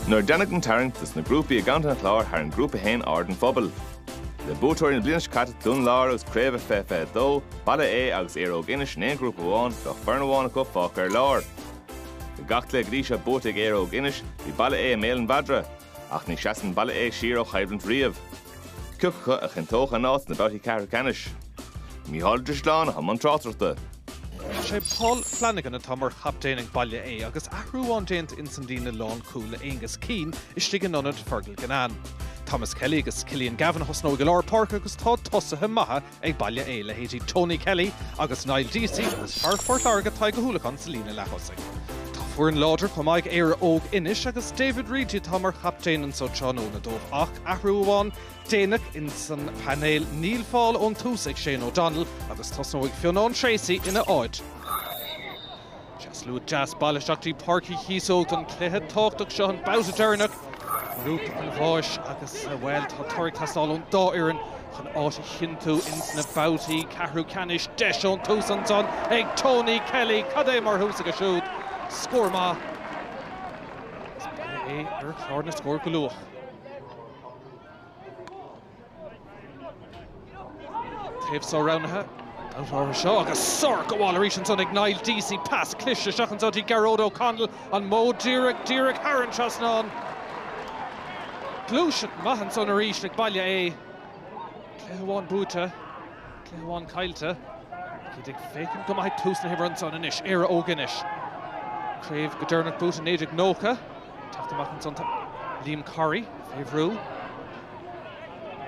Nuair a deineadh an tarraingt dos na grúpaí i gContae an Chláir tharraing Grúpa 1 aird an phobail. Le buaiteoirí na bliana seo caite Dún Láir agus Craobh 2022, Baile Aodha agus Éire Óg Inis in aon ghrúpa amháin bheadh foireann amháin acu fágtha ar lár. Le gach cluiche go dtí seo buaite ag Éire Óg Inis bhí Baile Aodha i mbéal an mhadra. Ach ní sheasann Baile Aodha siar ó choimhlint riamh. Cioca acu a chinnteodh a n-áit sna babhtaí ceathrú ceannais? Mícheál Ó Drisleáin i mbun tráchtaireachta. Is é Paul Flanagan atá mar chaptaen ag Baile Aodha agus athrú amháin déanta ins an líne lán-chúl le Aonghus Keane istigh in ionad Fergal Ginnane. Thomas Kelly agus Cillian Gavin a thosnóidh i lár páirce agus tá tosaithe maithe Ag Baile Aodha leithéidí Tony Kelly agus Niall Deasy agus fear Phort Láirge Tadhg Ó hUallacháin sa líne leath-thosaigh. Tá foireann láidir chomh maith ag Éire Óg Inis agus David Reidy atá mar chaptaen anso tráthnóna dóibh ach athrú amháin déanach ins an bpainéal. Níl fáil ón tús ag Shane O'Donnell agus tosnóidh Fionnán Treacy ina áit. Tá slua deas bailithe isteach dtí Páirc Uí Chíosóg don chluiche tábhachtach seo, an babhta deireanach i ngrúpa an bháis agus, bhuel, tá toradh ag teastáil ón dá fhoireann chun áit a chinntiú ins na babhtaí ceathrú ceannais. Deis ón tús ansan ag Tony Kelly. Cad é mar thús aige siúd. Scór maith. Is Baile Aodha ar chlár na scór go luath. Taobh seo roghnaithe. Babhta seo agus sárghabháil arís ansan ag Niall Deasy. Pas cliste isteach anso dtí Gearóid O'Connell. An modh díreach díreach thar an trasnán. Gluaiseacht maith ansan arís ag Baile Aodha. Cluiche amháin buaite. Cluiche amháin caillte. Táid ag féachaint go maith ag tús na himeartha ansan anois. Éire Óg Inis. Craobh go deireanach buaite 1990. Teacht amach ansan tá Liam Corry fé bhrú.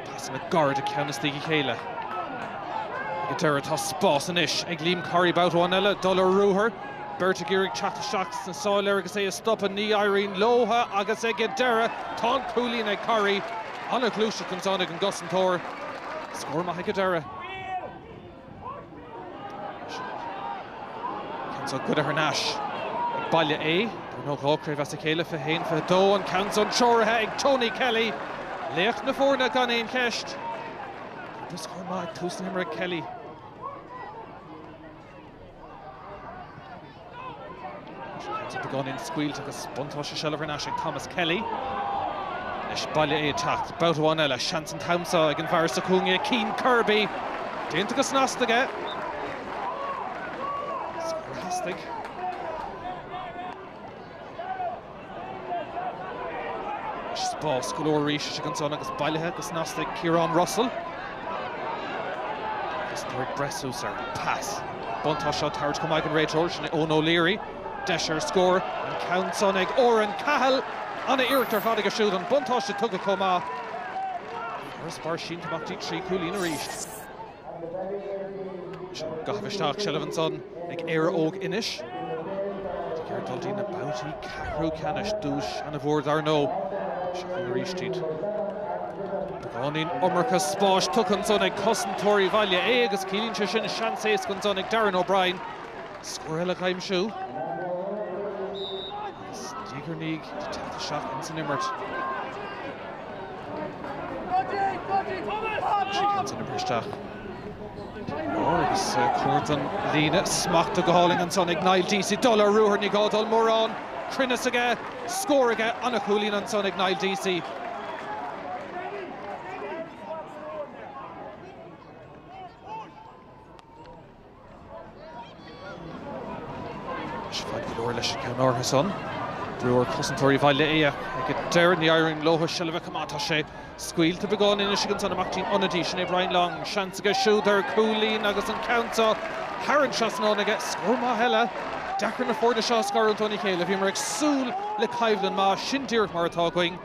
Pasanna gairide ceann as diaidh a chéile. Ag an deireadh tá spás anois ag Liam Corry babhta amháin eile dul ar ruathar. Beirt ag iarraidh teacht isteach sna sála air agus é a stopadh. Ní éiríonn leotha agus ag an deireadh tá an cúilín ag Corry. An-ghluaiseacht ansan ag an gcosantóir. Scór maith ag an deireadh. Ceann seo goidte thar n-ais ag Baile Aodha. Dar ndóigh dhá chraobh as a chéile, 21, 22, an ceann san treoraithe ag Tony Kelly, laoch na foirne gan aon cheist. Agus scór maith ag tús na himeartha ag Kelly. Tá beagáinín scaoilte agus buntáiste seilbh thar n-ais ag Thomas Kelly. Anois Baile Aodha ag teacht. Babhta amháin eile, seans an t-am seo ag an bhfear sa chúinne, Cian Kirby. Déanta go snasta aige. Scór a theastaigh. Spás go leor arís istigh ansan agus bailithe go snasta ag Ciarán Russell. Agus tá ag breith suas ar an pas. Buntáiste á thabhairt chomh maith ag an réiteoir, sin é Eoin O'Leary. Deis ar scór, an ceann san ag Oran Cahill. Ana-iarracht ar fad aige siúd, an buntáiste tugtha chomh maith. Farasbarr sínte amach dtí trí chúilín arís. Ón gcaitheamh isteach, seilbh ansan ag Éire Óg Inis. Ag iarraidh dul dtí na babhtaí ceathrú ceannais, duais an-mhór dar ndóigh. Seo chugainn arís iad. Beagáinín iomarca spáis tugtha ansan ag cosantóirí Bhaile Aodha agus ciallaíonn sé sin seans éasca ansan ag Darren O'Brien scór eile a aimsiú. Agus d'éirigh leo teacht isteach insan imirt. An ceann san ag brú isteach. Agus cuart an líne smachta go hálainn ansan ag Niall Deasy. Dul ar ruathar, ní gá dul mórán. Cruinneas aige, scór aige, an-chúilín ansan ag Niall Deasy. Is fada go leor leis an gceann áirithe san. Brú ar chosantóirí Bhaile Aodha ag an deireadh. Ní éiríonn leo seilbh a choimeád. Tá sé scaoilte beagán anois agus ansan amach dtí an ionadaí, sin é Brian Long. Seans aige siúd ar chúilín agus an ceann seo thar an trasnán aige. Scór maith eile. Deacair na foirne seo a scarúint óna chéile. Bhíomar ag súil le coimhlint maith. Sin díreach mar atá againn.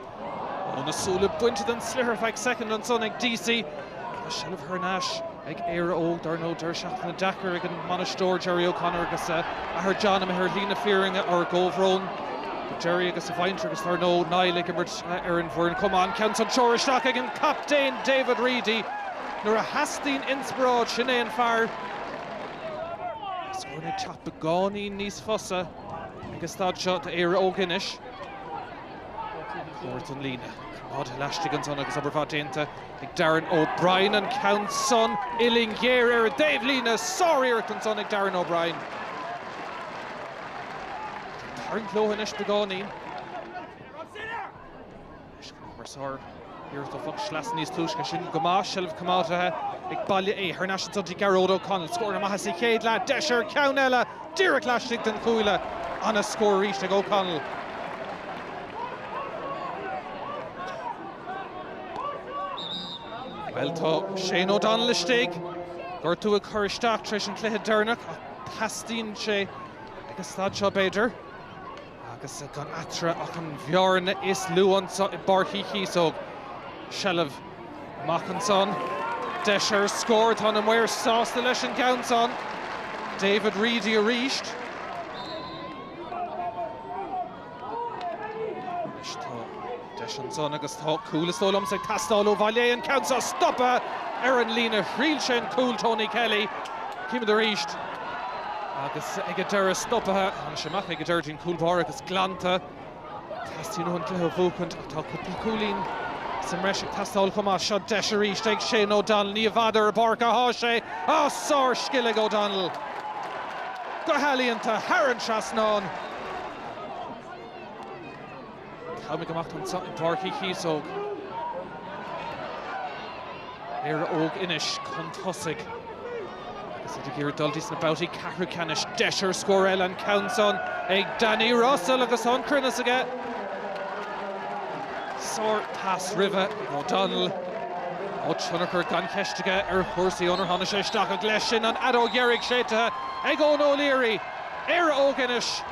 Ó na súile bainte den sliotar feadh soicind ansan ag Deasy. Tá seilbh thar n-ais ag Éire Óg. Dar ndóigh deireadh seachtaine deacair ag an mbainisteoir Gerry O'Connor agus a athair John imithe ar shlí na fírinne. Ár gcomhbhrón do Gerry agus a mhuintir agus dar ndóigh Niall ag imirt ar an bhfoireann chomh maith. An ceann san curtha isteach ag an gcaptaen David Reidy. Nuair a theastaíonn inspioráid sin é an fear scóranna ag teacht beagáinín níos fusa ag an staid seo d'Éire Óg anois. Cuart an líne. Coimeádta laistigh ansan agus obair mhaith déanta ag Darren O'Brien. An ceann san uillinn ghéar ar an dtaobh líne. Sár-iarracht ansan ag Darren O'Brien. Ag tarraingt leo anois beagáinín. Anois chun cumarsáid. Iarracht ó phoc sleasa níos túisce sin go maith. Seilbh coimeádaithe ag Baile Aodha thar n-ais ansan dtí Gearóid Ó Conaill. Scóranna maithe sa chéad leath. Deis ar cheann eile. Díreach laistigh den chuaille. An-scór arís ag Ó Conaill. Bhuel tá Shane O'Donnell istigh. Gortú ag cur isteach tar éis an cluiche deireanach ach teastaíonn sé ag an staid seo b'fhéidir. Agus gan eatarthu ach an bhearna is lú anseo i bPáirc Uí Chíosóg. Seilbh amach ansan. Deis ar scór. Tá na maoir sásta leis an gceann san. David Reidy arís. Anois tá. Deis ansan agus tá cúl is dóigh liom ag teastáil ó Bhaile Aodha. An ceann seo stopaithe ar an líne thriail sé an cúl Tony Kelly. Címid arís agus ag an deireadh stopaithe. Tháinig sé amach ag an deireadh dtín cúl báire agus glanta. Teastaíonn uathu an cluiche a bhuachaint ach tá cúpla cúilín sa mbreis ag teastáil chomh maith. Seo deis arís ag Shane O'Donnell. Ní i bhfad ar an bpáirc athá sé ach sár scil ag O'Donnell. Go healaíonta thar an trasnán. Táimid go maith anseo i bPáirc Uí Chíosóg. Éire Óg Inis chun tosaigh agus iad ag iarraidh dul dtí sna babhtaí ceathrú ceannais. Deis ar scór eile, an ceann san ag Danny Russell agus an cruinneas aige. Sár pas roimhe ag O'Donnell. Ó tionchar gan cheist aige ar chúrsaí ónar tháinig sé isteach ach leis sin an fheadóg dheiridh séidtithe ag Eoin O'Leary. Éire Óg Inis.